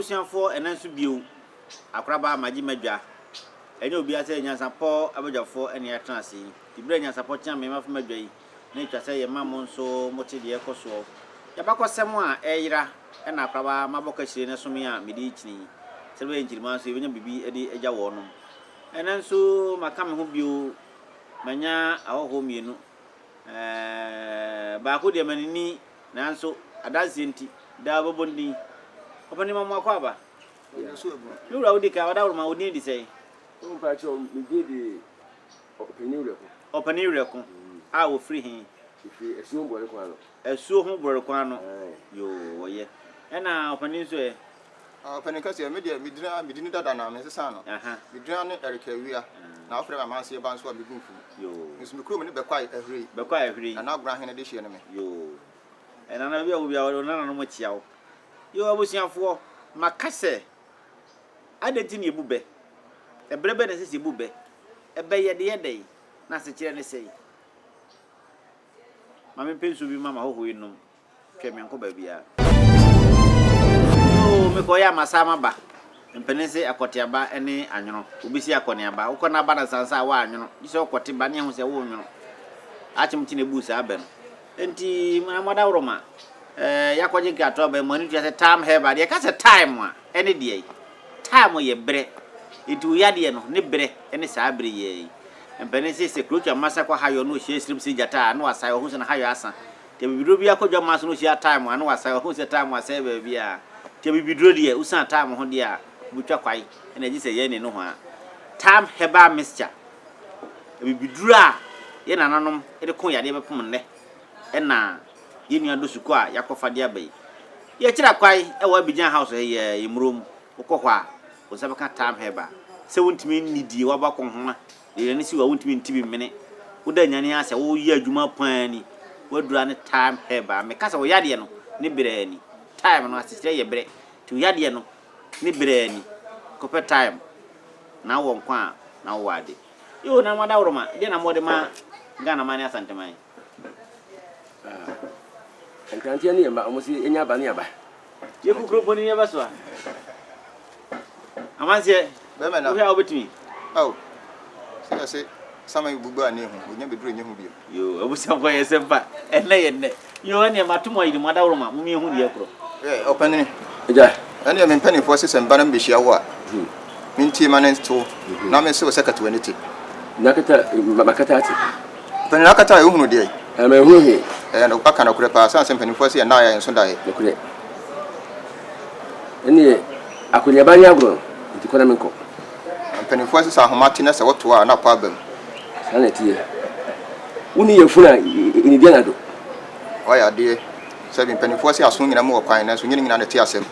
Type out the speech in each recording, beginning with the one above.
abusuafoɔ ɛnɛ nso bio akoraba magye madwa ɛnyɛ obiara sɛ nyansapɔ abadwafoɔ ɛne atena ase yi tibirɛ nyansapɔ tea me mafo madwa yi na atwa sɛ yɛma mo nso mote deɛ ɛkɔ soɔ yɛbakɔ sɛm a ɛyera ɛna akoraba mabɔ kahyire no ɛsome a mede kyini sɛ bɛyɛ nkyirima nso yɛbɛnya biribi de agya wɔnom Ɛnnɛ nso maka me ho bio, manya ahɔhoɔ mmienu. Baako deɛ mani nni nanso adanseɛ nti, daa ɔbɛbɔ ndin. Ɔpanin Mamoako Aba, me wura wodi kan, Ɔdawuroma, wo din de sɛn? Mpakyɛw, me din de Ɔpanin Werɛko. Ɔpanin Werɛko a wɔfiri he? Mefiri Asuo ho Borɔrekwan ano. Asuo ho Borɔrekwan ano, yoo, wɔyɛ. Ɛna Ɔpanin nso ɛ? Ɔpanyin no ka sɛ, Me deɛ, medin a medin dada na mensesaa no. Me din ne Eric Awia, na wɔfrɛ me Amanseɛ Ba nso a megu mfum. Me nso me kurom ne Bɛkwae Ahurei. Nana Agorɔ Ahene dehyeɛ ne me. Nana Awia wɔ biara wo nananom kyia wo. Yoo abusuafoɔ, maka sɛ, adɛn nti na yɛbu bɛ? Ɛberɛ bɛn na ɛsɛ sɛ yɛbu bɛ? Ɛbɛ yɛ de yɛ dɛn, na asekyerɛ ne sɛn? Ma mempɛ nsuo bi mma m'ahɔhoɔ yi nnom. Hwɛ menkɔ baabiara. Yoo mekɔ yɛ a masan maba. Mpanin se akɔte aba ne anwono. Obi se akɔ ne aba. Wokɔ na aba nansa nsa a woanwono. Gye sɛ wokɔte ba ne ahu sɛ wonwono. Akyem nti na ebuu saa bɛ no. Enti na moadaworoma. Ɛɛ yɛakɔgye nkratoɔ aba yi mo ani tua sɛ time have adeɛ. Yɛka sɛ time a ɛne deɛ yi. Time yɛ berɛ. Enti wo yadeɛ no ne berɛ ne saa bere yi ara yi. Mpanin se sɛ krotwa mma sa kɔ hayɔ na ɔhyia asirim se gyata a na wasae ɔhu sɛ na hayɔ asa. Nti abibiduro biara kɔ dwammaa so na ɔhyia time a na wasae, ɔhunu sɛ time asɛe baabiara. Nti abibiduro deɛ wosiane time ho deɛ a wobɛtwa kwae na agye sɛ yɛn ne nohoa. Time herbal mixture, abibiduro a yɛn nananom de koo yadeɛ bɛpem nnɛ na yɛn nua Dosuko a yɛakɔfa de aba yi. Yɛkyerɛ kwae wɔ Abidjan house ha yi a, Emuro mu, wokɔ hɔ a wo nsa bɛka time herbal. Sɛ wontumi nni die, wabɔ akɔnhoma Yɛn ani si wo a wontumi nte bi mene wo da nyan yɛn asɛ wo yɛ adwuma paa ni wadura ne time herb a meka sɛ wo yadeɛ no ne brɛɛ ni time no asekyerɛ yɛ brɛ nti wo yadeɛ no ne brɛɛ ni kɔpɛ time na wɔ nkwa a na wowɔ ade yoo na mo adaworoma deɛ na mo de ma Ghana man ne Asante man. Nkranteɛ ne yɛn ba, wɔn si enya aba ne aba. Yɛ kukuro mpo ne yɛ ba so a. Amanseɛ, wohwɛ a wobɛtumi. Ao, sɛ yɛse sama yi bubu a ne ehu, onya bɛduru nyɛ ho bio. Yo, abusuafoɔ yɛ sɛ mpa, ɛnɛ yɛ nnɛ. Yo, ɛneɛ mato mo ayiri mo adaworoma, mo mmiɛhu deɛ korɔ. Ɛ, ɔpanini. Agya. Ɛneɛ me mpanifoɔ se sɛ mba na mebɛhyia wo a, mentie ma ne nte wo, na mense wo sɛ kata w'ani te. Na kata, makata ate. Panyin no akata a ohunu deɛ. Na ma ehu he. Ɛyɛ no aka nokorɛ paa sane sɛ mpanimfoɔ se yɛn nan ayɛ yɛn so daeɛ. Nokorɛ. Ɛneɛ akɔneaba ne agorɔ no nti kɔ na menkɔ. Na mpanimfoɔ se sɛ ahoma te na sɛ wotoa a na apɔ aba mu. Saa na ɛteɛ. Wonni yafunu a nnidi anadwo. Woayɛ adeɛ. Sɛbe mpanimfoɔ se aso nyina mu wɔ kwan nanso nyɛ ne nyinaa na ɛte asɛm.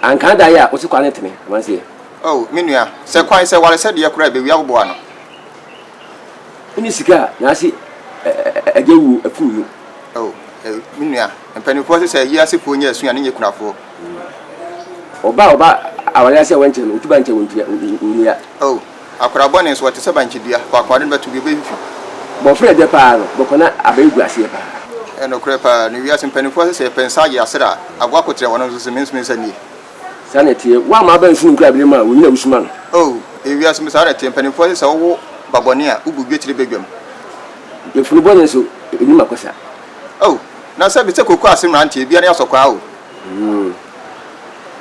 Anka ada yɛ a wose kwan no tene amanseɛ. Oh, me nua, sɛ kwan, sɛ waresɛdeɛ koraa a ɛbɛwie a wobɔɔ ano. Wone sika a n'ase agya wuo akum no. Oh, eh, me nua, mpanimfoɔ se sɛ wiasefoɔ nyɛ asu a ne nyɛ kunafoɔ. Ɔba a ɔba aware ase a wankyɛ no, otuba nkyɛ onua. Oh, akwadaa bɔne nso, ɔte sɛ bankye dua, faako a ɔde no bɛto bi, ɔbɛfifi. Bɔfra a ɛdɛ paa no, bɔkɔ na aba egu aseɛ paa. Ɛyɛ nokorɛ paa, na wiase mpanimfoɔ se sɛ yɛpɛ nsa agye asra a, aboa koterɛ, wɔnom nso se mensome nsa nnie. Saa na ɛteɛ. Wo a ma aba nsu no nkura bere mu a onyin a wusuma no. Oh, ɛyɛ wiase mu. Saa na ɛteɛ. Mpanimfoɔ se sɛ wowo ba bɔne a, wobu dwetire badwam. Yafunu bɔne nso, ennim akɔsa. Oh, na sɛ bi sɛ kooko ase mmeranteɛ, ebiara ani asɔ koraa o. Mm.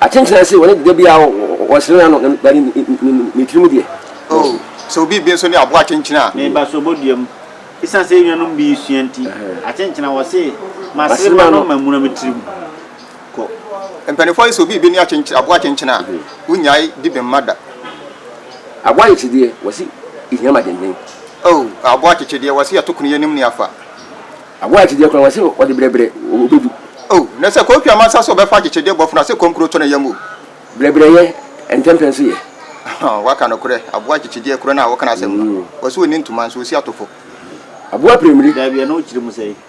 Akyenkyena se wɔne da biara wɔsere ano, na ba ne tiri mu deɛ. Oh, sɛ obi bi nso ne aboa akyenkyena a. Meba sobo dua mu. Esiane sɛ yɛn nuanom bi resua nti, akyenkyena wɔse, Masere m'ano, mamuna me tirim. kɔ. Mpanimfoɔ ayɛ sɛ obi rebɛni akyenkyene, aboa akyenkyene a, wonnyae di bɛmma da. Aboa yɛkye deɛ, wɔse ɛhia ma denden. Oh, aboa akyekye deɛ, wɔse yɛto kono yɛnim nea fa. Aboa yɛkye deɛ koraa, wɔse ɔde brɛbrɛ ɔbɛdu. Oh, na sɛ kɔn twam ansa sɛ ɔbɛfa akyekye deɛ bɔfono a, sɛ kɔm kuro tɔ n'ayam o. Brɛbrɛyɛ, ntɛmpɛ nso yɛ. Ahaa, woaka nokorɛ, aboa akyekye deɛ korɔ no a woka n'asɛm no, wɔse ɔnni ntoma nso, ɔsi atofo. Aboa pira mmire. Daabi, ɛno wokyerɛ mu sɛn?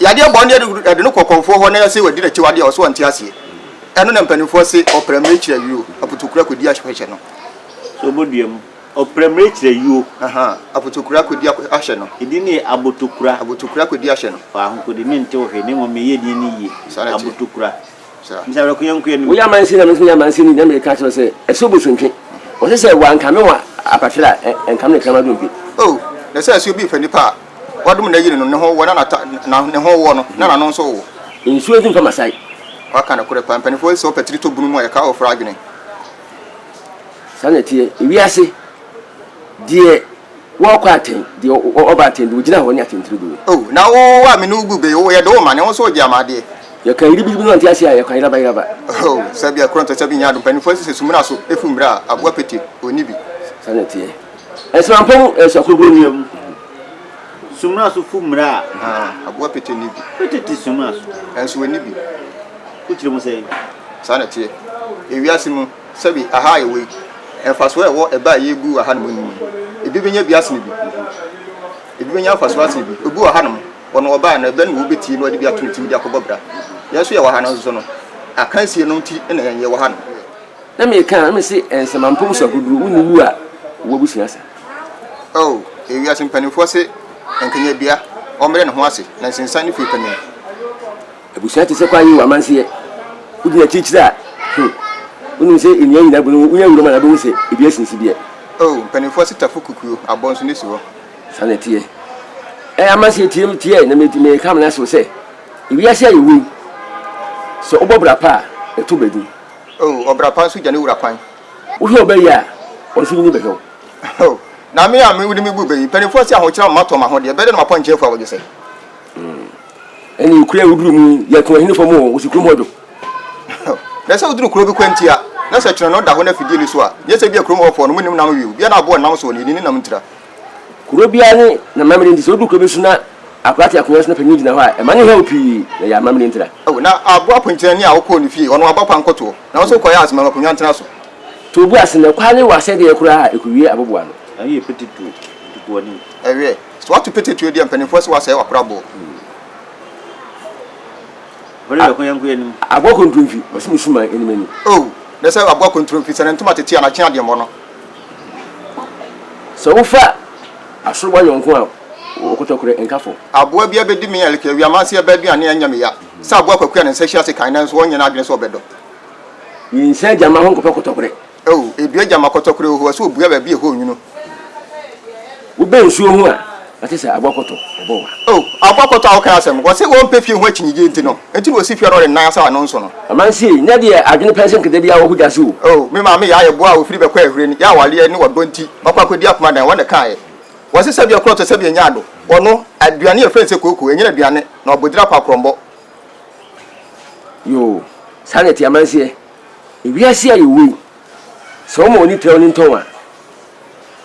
Yadeɛ mmɔ no yɛde yɛde no kɔ kɔmfoɔ hɔ na yɛse wadi n'akyiwadeɛ a ɔse ɔnte aseɛ. Ɛno na mpanimfoɔ se ɔpra mmire kyerɛ ayuo, aputukura kɔdi ahwɛ no. So ɔbɔdua mu? Ɔpra mmire kyerɛ ayuo. Ahaa, aputukura kɔdi ahwɛ no. Edin no yɛ abotukura. Abotukura kɔdi ahwɛ no. Fa ahokode, mente wo hwee, na mmom meyɛ edin no yie. Saa na ɛteɛ. Abotukura. Woyɛ amansin na me nso meyɛ amansini na meka kyerɛ wo sɛ ɛsɛ obosontwe. Ɔse sɛ wankame wɔ apatere a ɛnkame ne kraman dompe. Oh, na sɛ ɛsɛ obi fa nipa a wadom na yiri no ne ho wɔ na nata na ne ho wɔ no na n'ano nso wɔ. Nsuo nso mfa masae. Waka nokorɛ paa, mpaninfoɔ sɛ ɔpɛ tiri tɔ bunu mu a ɛka ɔfra adwene. Saa na ɛteɛ, ewiase deɛ. Wɔkɔ atɛn, deɛ ɔba atɛn deɛ, ɔgyina hɔ ne atɛntire gu. O na wo a me ne wo gu be o, yɛde wo ma ne wo so ɔgye ama adeɛ. Yɛka yiribigibi na ɔnte aseɛ a, yɛkwan yerabayeraba. O sɛ bi a korɔ ntɔ sɛ bi nyɛ ado, mpaninfoɔ se sɛ sumina so afu mmrɛ a, aboa pete ɔnni bi. Saa na ɛteɛ. Nsemampɔ mu nso akorɔkorɔ nni mu. Sumina so fu mmrɛ a. Haa, aboa pete nni bi. Pete te sumina so. Nso ɔnni bi. Wokyerɛ mu sɛn? Saa na ɛteɛ. Ewiase mu. Sɛbi aha a yɛwɔ yi, mfasoɔ a ɛwɔ ɛbɛ a yɛrebu wɔ hanom no mu no, ebi bɛnya bi asene bi. Ebi bɛnya mfasoɔ asene bi. Obi wɔ hanom, ɔno ɔbaa no, ɛbɛ no na ɔbɛtie na ɔde bi ato ne tirim de akɔbɔ bra. Yɛn nso yɛwɔ ha no nso no, akansie no nti na yɛn yɛwɔ hanom. Na meka na mese nsɛmampɔmu so akodoɔ, wonni wu a w'abusua sa. Oh, ewiase mpanimfoɔ se, Nkenyadua, ɔmmrɛ ne ho ase, na nsensan ne fie panin. Abusua te sɛ kwae o amanseɛ Wodi n'akyirikyiri a hmm Wonim sɛ nnua nyinaa bu no ho Wonya wuram a na wobɛhu sɛ ebi asen sideɛ Oh mpaninfoɔ se tafo kukuo Abɔ nso ne si hɔ Saa na ɛteɛ Eh amanseɛ tie me teɛ Na meka amena ahyɛ wo sɛ Ewiase a yɛwɔ yi Sɛ wobɔ bra pa a ɛtɔ ba din Oh ɔbra pa nso gya ne wura kwan Wohwɛ ɔbɛ yi a Ɔnso nyini bɛhwɛ wo Oh na me a wode me bu bɛ yi Mpaninfoɔ se ahokyerɛ ama matɔ m'ahodeɛ Bɛdɛ na mapɔnkye afu abɔdwesɛ. ɛne ekura a woduru mu yɛ to ɛhene fam o wosi kurom hɔ dwo. na sɛ woduru kuro bi kwanti a na sɛ kyerɛ no da hɔ na fidie ni so a nyɛ sɛ bi a kurom hɔ fɔɔ no mu nim nam wie obiara aboɔ nam so ne yɛni ne nam ntira. Kuro biara ne na mamire nti sɛ woduru kuro bi so na akora te akonwa so na panyin gyina hɔ a ɛma ne hɛw pii na yɛ amamire ntira. O na aboa ponkyerɛni a wokɔɔ ne fie ɔno wabɔ pa nkɔtoɔ na wo nso wokɔyɛ ase ma akonwa ntena so. To obu ase na kwa ne wɔ asɛdeɛ koraa a ɛkɔwie aboboano. Ayi yɛ pete to ntukuani. Ɛweɛ. So wato pete tuo deɛ mpanimfoɔ se wasɛe wakora boɔ. Bere bɛko yɛnko yɛ nim. Aboa kontromfi ɔse me suma anim anim. Oh ne sɛ aboa kontromfi sɛ ne ntoma tete a nakye adeɛ mmɔ no. Sɛ wofa asorowa yɔnko a ɔkɔtɔkorɛ nka fam. Aboa bi abɛdi me ɛlk awia manse ɛbɛ aduane ɛnyɛ me ya. Sɛ aboa kwaku a ne nsa hyia ase kan nanso ɔnyɛ n'adwene sɛ ɔbɛdɔ. Nyinsɛn gyama ho nkɔfa kɔtɔkorɛ. Oh, edua gyama kɔtɔkorɛ oho, ɛsɛ obua baabi a ɛhɔ nwunu. Wobɛ nsuo ho a, wate sɛ abɔkɔtɔ bɛbɔ wa. Oh, abɔkɔtɔ a woka n'asɛm, wɔse wɔmpɛ fie ho akyinnyegyeɛ nti no, enti na ɔsi fie a na ɔde ne nan asɛ ano nso no. Amansie nyɛ deɛ adwene pɛnsɛn kɛtɛ biara wɔ kogya so o. Oh, me maame Yaa yɛ boa a ɔfiri bɛkɔ Ahuren, yɛ awareɛ ne ɔdɔ nti, wakɔ akɔdi akoma dan, wɔn na ɛkaeɛ. Wɔse sɛdeɛ korɔ tɔ sɛdeɛ nyaa do, ɔno, aduane a ɛfrɛ no sɛ kooko, ɛnyɛ n'aduane, na ɔbodira kɔ akorɔmbɔ. Yoo, saa na ɛte Amansie. Wiase a yɛwɔ yi, sɛ wɔma w'ani trɛw ne ntɔn a,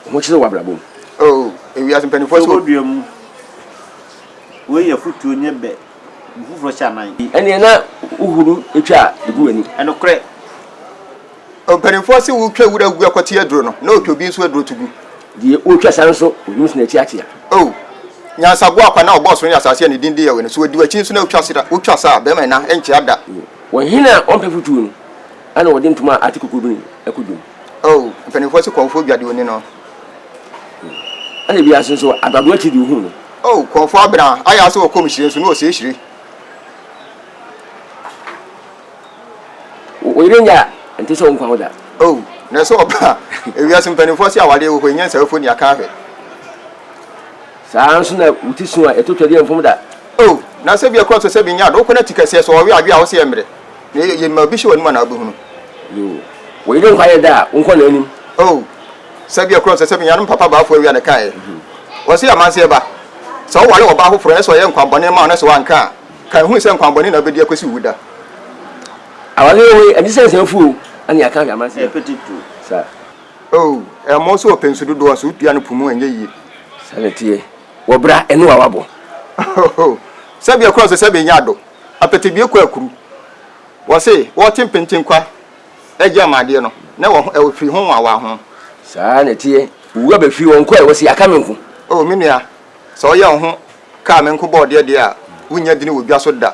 wo ho kyere w'abrabɔ mu. Oh, wiase mpanyimfoɔ sɛ. Sobo dua mu. Wei yɛ afutuo nyɛ bɛ mu foforɔ hyɛ anan. Ɛneɛ na wo huru twa gu w'ani. Ɛnokorɛ. Oh, mpanyimfoɔ se wo twa wura gu a kɔte aduro no, na ɔtwa obi nso aduro to gu. Deɛ ɔtwa sa nso, ɔnim sene akyi akyea. Oh, nyansa boa kwa na ɔbɔɔ soro ne asaase a ne din de Yawɛ no, sɛ ɔdi w'akyi nso na ɔtwa sera, wotwa sa a, bɛrima nna nkyea da. Wɔn hene a ɔmpɛ fotuo no na ɔde ntoma a ate kokurobini kɔ dwom. O mpanimfoɔ so kɔmfoɔ dwa deɛ ɔni no. Ɛna ebiara so nso adoadoa akyi deɛ ɔhunu no. O kɔmfoɔ abena ayɛ ase wɔ kɔm hyire nso na ɔsɛe hyire. Wo yere nyɛ a ɛnte sɛ wo nkwa ho da. O na ɛsɛ ɔbaa a ewiase mpanimfoɔ se awadeɛ wɔ hɔ yi nyɛ nsaefoɔ ni akanhwɛ. Saa ara nso na wo ti su a ɛtɔ twadi mfom da. O na sɛ ebia kura ɔsɛ sɛ minya ade, wokɔ na ti kɛseɛ sɛ ɔwe adwe a ɔsɛ yɛ mmerɛ na yɛ yɛ ma obi hyɛ w'anim anaa wobɛhunu. Yoo wo yere nkwa yɛ da a wonkɔ n'anim. O sɛ ebia kura ɔsɛ sɛ minya ade mpapa baafoɔ awia na kaeɛ ɔsɛ yɛ amanseɛ ba sɛ woware ɔbaa foforɔ na sɛ ɔyɛ nkwa bɔne ma wo na sɛ wanka a kae hu sɛ nkwa bɔne na wobɛdi akɔsi wo wu da. Awareɛ wei ɛnte sɛ nsɛmfuu o ɛne yɛaka ahwɛ amanseɛ saa. Oh, ɛmɔ so ɔpɛ nsu dodoɔ nso wotua no po mu ɛnyɛ yie. Saa na ɛteɛ wɔ bra ɛno a wabɔ. Oh, sɛbea kura nso sɛ bɛnya ado apɛtɛ bie kɔ akuru wɔ se wɔte mpenten kwa ɛgye ama adeɛ no na wɔ ɛwɔ firi ho nwa wɔ ho. Saa na ɛteɛ owura bɛ firi wɔn kɔɛ wɔ se aka me nko. Oh, me nua sɛ ɔyɛ wo ho kaa me nko bɔɔ deɛ deɛ a wonnya dini wɔ dwa so da.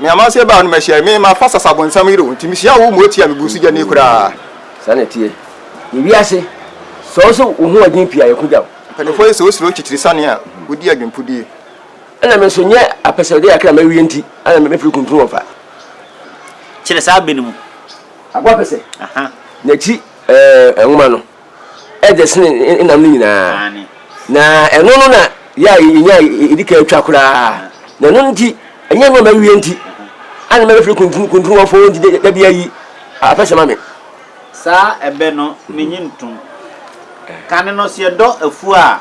Me amanseɛ baa no mahyia me ma pastors abonsam yere wo nti mehyia wo ma otia me gu nso gyani koraa. Saa na ɛteɛ. Yɛ wiase. Sɛ wo nso wo ho ɛden pii a yɛ ko gya wo. Mpaninfoɔ yi sɛ wo suro nkyitiri sane a wo di adwenpudie. Ɛna me nso nyɛ apɛsɛdɛ akra ma wie nti ana me firi kuntunu wɔn fa. Kyerɛ saa bɛ no mu. Aboa pɛsɛ. Aha. N'akyi ɛɛ nwoma no. dɛ sen nam no nyina, na ɛno no na yɛ a yenya a yedi kan twa koraa, na ɛno ntsi nnyɛ nɔma ewie ntsi ana mebɛfrɛ kuntunkuntun-wɔfo ntsi dɛ da bi a yi apɛsɛ ma me. Saa ɛbɛ no minnyi nntom. Kan no sɛ yɛdɔ efuw a,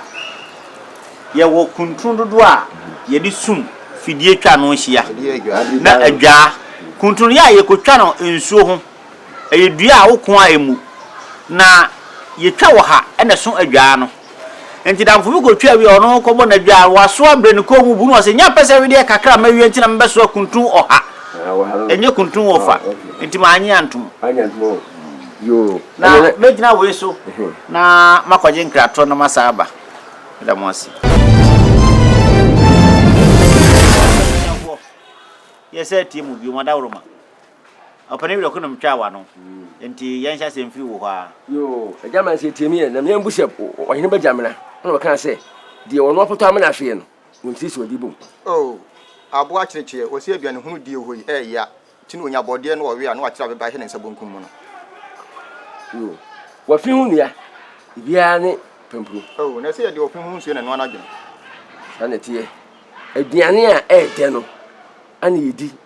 yɛwɔ kuntun dodow a yɛde sum fidie twa ano hyia na adwaa. Kuntun no yɛ a yɛkotwa no nsuo ho. Ɛyɛ dua a woko a emu, na yetwa wɔ ha na ɛso adwaa no. Enti damfo bi kotwa wie a ɔno kɔbɔ n'adwaa, wasoa brɛ ne kɔn mu bu na ɔse, Nya pɛsɛ wedeɛ kakra a mawie nti na mebɛsoa kuntun ɔha, ɛnyɛ kuntun ɔfa, enti mannye antom. Na mɛgyina wei so na makɔgye nkratoɔ na masan aba. Meda mo ase. Abusuafoɔ, yɛsan atie mo bio, mo adaworoma. Ɔpɛ ne werɛ ko na ɔmo twaa w'ano nti yɛn hyɛ asɛm firi wo hɔ aa. Yoo agya ma nse tie mi yɛ na mi ambu sɛ ɔhene bɛ gya mena ɛna ɔbɛka sɛ deɛ ɔno ɔpotɔ amena ahweɛ no ɔntie sɛ ɔdi bom. Oh aboa kyerekyeɛ wɔse aduane hunu die hɔ yi ɛɛya nti na ɔnya bɔdeɛ na ɔwe a na wakyere abeba hɛ ne nsa bonkum mu no. Yoo wafi ho nua biaa ne pampuro. Oh na ɛsɛ yɛde ɔfi ho nsuo na ɛnoa no adwene. Saa na ɛteɛ aduane a ɛɛdɛ no ana yɛdi.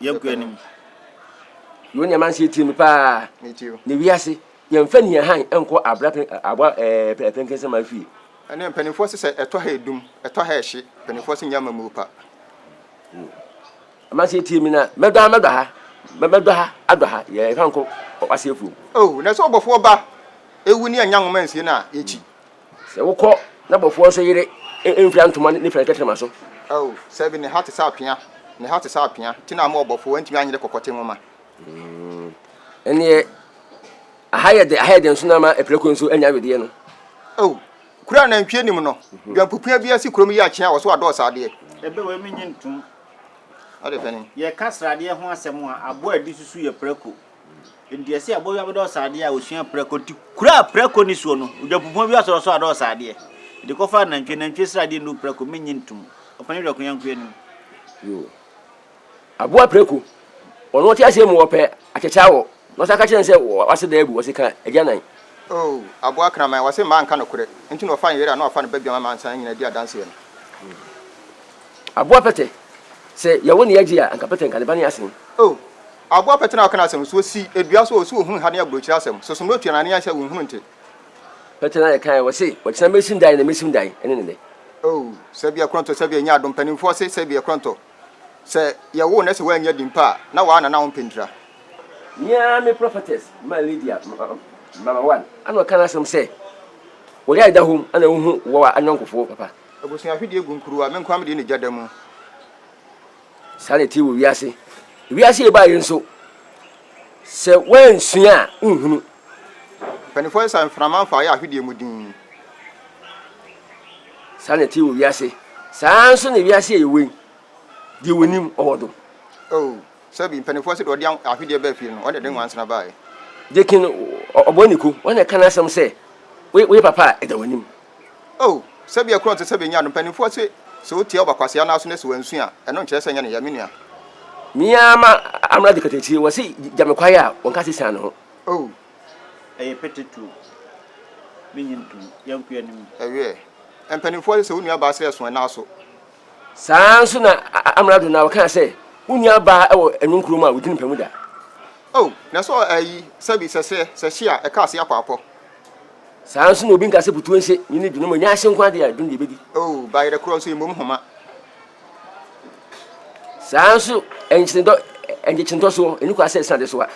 yɛnkɔ anim yɛwɔ nneɛma nse yɛtie me paa na wiase yɛmfa ni han nkɔ abra aboa pɛnkɛnsɛm afie ɛne mpanimfoɔ se sɛ ɛtɔ ha ɛdum ɛtɔ ha ɛhye mpanimfoɔ se nyɛ ama mu pa ama sɛ yɛtie me na mɛdɔ ha mɛdɔ ha mɛdɔ ha adɔ ha yɛfa nkɔ waseɛfuom oh, na sɛ ɔbɔfoɔ ba ɛwu ne anya nwoma nsie no a yɛkyi Sɛ wokɔ n'abɔfoɔ nso yere mfira ntoma ne fira tɛtrɛma so. Ao, sɛbe ne ha te sɛ apea, ne ha te sɛ apea, te na ama ɔbɔfoɔ antumi anyere kɔkɔte nwoma. Ɛnneɛ aha yɛ dɛ, aha yɛ dɛ nso na ama apirakuro nso anya wedeɛ no. Ao, kuro a nantwie nim no, dwampupua bi asi kurom yi akyea wɔ so adɔ ɔsradeɛ. Ɛbɛ wei mennye ntom. Adeɛ bɛn? Yɛka sradeɛ ho asɛm a, aboa a ɛde susu yɛ prako. Ntease a bɔwia bɛdɔ ɔsaadeɛ a ɔsua prako nti kuraa prako ne suo no, odwapupɔn bi asɔrɔsɔ adɔ ɔsaadeɛ. De kɔfa anantwie, nantwie sradeɛ nnu prako, mennye ntom. Ɔpanin werɛ koyanko anim. Yoo. Aboa prako. Ɔno ɔte aseɛ mu ɔpɛ akyɛkyɛ awɔ na ɔsan ka kyerɛ no sɛ wase da abu, ɔse ka agyanan. Oo, aboa kraman. Wase mmaa nka nokorɛ nti na ɔfa nyere a na wafa no badwam ama nsan nyina adi adanseɛ no. Aboa pɛtɛ. Sɛ yɛwo ne yɛgye a anka pɛtɛ nka ne ba ne asen. Oo. Aboa pɛtena a ɔka n'asɛm no so, osi dua so a, ɔsi ohunu ha ne aburokyire asɛm so, somee otua na ne yan sɛ wonhunu nte. Pɛtena a yɛkae a wɔse, ɔkyena mɛsi dan na mɛsim dan ne ne nnɛ. Oh, sɛbea korɔntɔ, sɛbea ɛnyɛ adom, mpanimfoɔ se sɛbea korɔntɔ, sɛ yɛwoo na sɛ wannya din pa a, na waa na na ɔmpɛ ntira. Me ara me prophetess ma Lydia, Mama One, ana ɔka n'asɛm sɛ, Wɔ yare da hom ana wohu wɔ ayɔnkofoɔ papa. Abusua ahwedeɛ gu nkuruwa, me nkoa me deɛ na egya da mu. Saa na ɛte wɔ wiase. Wiase a ɛbaa yi nso, sɛ woansua a, wonhunu. Mpanimfoɔ sesa mframa mfa yɛ ahwedeɛ mu dinn. Saa na ɛte wɔ wiase. Saa ara nso na wiase a yɛwɔ yi, deɛ wɔnim, ɔwɔ do. Oh, sɛbi, mpanimfoɔ sɛ deɛ ɔde ahwedeɛ baa fie no, ɔno na ɛde nwansena baeɛ. Deacon Ɔbɔniko, ɔno na ɛka n'asɛm sɛ, Woyɛ papa a, ɛda w'anim. O, sɛbea kura ɔte sɛ Benyaa no. Mpanyimfoɔ se, Sɛ otia ɔba kwasea no aso na sɛ wansu a, ɛno nkyerɛ sɛ ɛnyɛ ne ya, me nua. Me ara ma amena de katakyire, wɔse gya me kwae a, wɔnka se sian ne ho. O. Ɛyɛ pete tuo, me nye ntom, yanku yɛ ne mu. Ɛweɛ. Mpanyimfoɔ se, Sɛ wo nua baa srɛ so ɛna aso. Saa ara nso na amena do na wɔka sɛ, Wo nua baa wɔ ɛno nkuro mu a, odin mpa mu da. O, na sɛ ɔɔ ayi, sɛbi, sɛ srɛ, sɛ hye a, ɛka ase akɔ akɔ. Saa ara nso na obi nka sɛ butuo nse ne ne dunum nyɛ ahye nko adeɛ a dum deɛ ɛbɛdi. O, bayerɛ korɔ nso mmom homa. Saa ara nso nkyenedɔ nkyekyentɔsoɔ ɛni kwa sɛ ɛsene adesoa.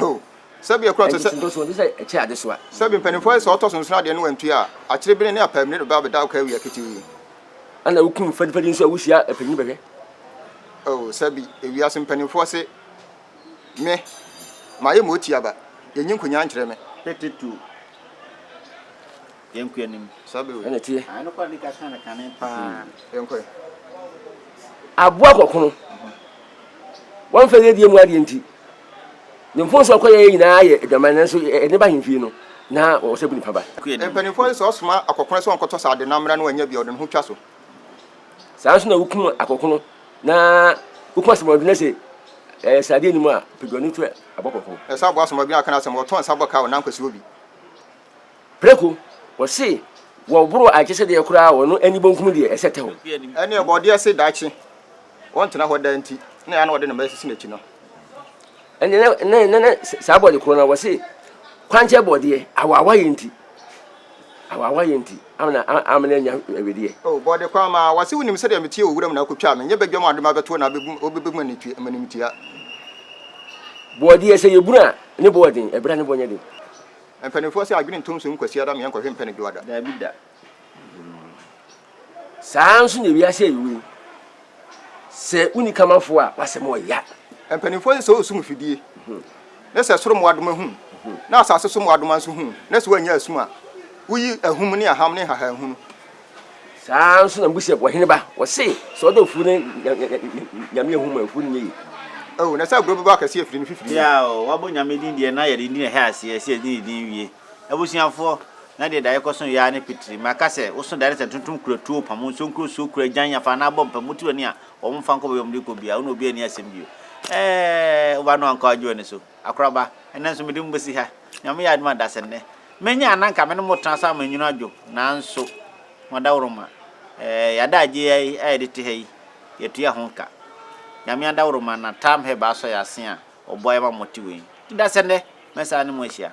O, sɛbi ɛkorɔ te sɛ. Nkyekyentɔsoɔ ɛni sɛ ɛkyɛ adesoa. Sɛbi mpanimfoɔ sɛ ɔtɔ so nson adeɛ no wantua a, akyire bene ne apaamire bɛba abɛda ɔka awia ketee. Ɛna wokum fadifadi nso a wohyia apanyin bɛhwɛ. O, sɛbi ewiase mpanimfoɔ se. Me, mayɛ mo otia ba, yɛnyi nkonnyaa nkyerɛ me. Tete tu yɛn kua nim. Saa bɛ wei. Ɛna tie. Ano kwa ni kasa na kane paa. Yɛn kɔɛ. Aboa kɔkono. Wɔn fɛ yɛ die mu adeɛ nti. Ne mfonso akɔ yɛ nyinaa yɛ adwaman nanso ɛne ba hemfie no na wɔsɛ bu nipa ba. Mpanimfoɔ sɛ ɔsoma akɔkono sɛ ɔnkɔtɔ sɛ ade na mmra no anya bi a ɔde ne ho twa so. saa ara nso na wokum akɔkono na wokum asomɔden na sɛ ɛyɛ sradeɛ anim a peduani nso ɛbɔ kɔkɔɔ. ɛsɛ aboa asomɔden aka n'asɛm wɔtɔn nsa bɔ ka wɔ nankwasi obi. Preko, wɔse wɔboro agyesɛdeɛ koraa wɔ no ani bonkum deɛ ɛsɛ tɛ hɔ. Ɛne ɔbɔdeɛ se daakye wɔntena hɔ daa nti na ɛyɛ a na wɔde ne mma sisi n'akyi no. Ɛnde na, na, na, na saa bɔne korɔ no, wɔse kwankyɛ bɔdeɛ, awaawayɛ nti, awaawayɛ nti, amena, amena anya awedeɛ. O, oh, bɔde kwan maa, wɔse wonim sɛdeɛ meteɛ wɔ wuram na akɔtwa me, nyɛ badwam ade mabɛtoɔ na abɛbu, wobɛbɛ mu animtia. Bɔdeɛ, sɛ yɛbunu a, ne bɔ yɛ den, ɛberɛ a ne bɔ nyɛ den. Mpanimfoɔ se adwene ntom so nkwasiada meɛ nkɔhwe mpɛ ne dwoada. Daabi da. Saa ara nso na wiase a yɛwɔ yi, sɛ wonni kamafo a, w'asɛm ɔya. Mpanimfoɔ sɛ ɔsum mfidie, ne sɛ soro mmoadoma hu, na asase so mmoadoma nso hu, na sɛ wɔanya asum a, woyi ahum ne aham ne nhahanhunu. Saa ara nso na Mose wɔ hene ba, wɔse sɛ ɔdɔ afuo no nyame ahu ma afuo no nyɛ yie. Oh, na sɛ agorɔ bɛbɔ akɛseɛ afiri ne fifiri mu. Yaa oo, wabɔ nyame din deɛ na yɛde din ɛhɛ aseɛ sɛ yɛde ne din wie. Abusuafoɔ, na deɛ dare kɔso yɛ ara ne pitiri. Maka sɛ, woso dare sɛ ntontom kura tuo, pamo nsuo nkuro suo, kura agyan afa anaa bɔ mpamu ti w'ani a, wɔmfa nkɔ baabi a wɔde rekɔ biara, wo ne obiara nni asɛm bio. Ɛɛɛɛ, wo ba no ankɔ agye w'ani so. Akoraba, ɛnnɛ nso mede mo bɛsi ha. Nyame yɛ adom a, Dasennɛ. Mɛnya a na anka me ne mo tena so ama nwunu adwo, nanso moadaworoma. Ɛɛɛɛ, yɛada agye yi ara yi a yɛde te ha yi, yɛtua ho ka. Nyame adaworoma na Tam Hɛb asɔ yɛn ase a, ɔboa yɛn ma mote wei. Dasennɛ, mɛsan ne mo ahyia.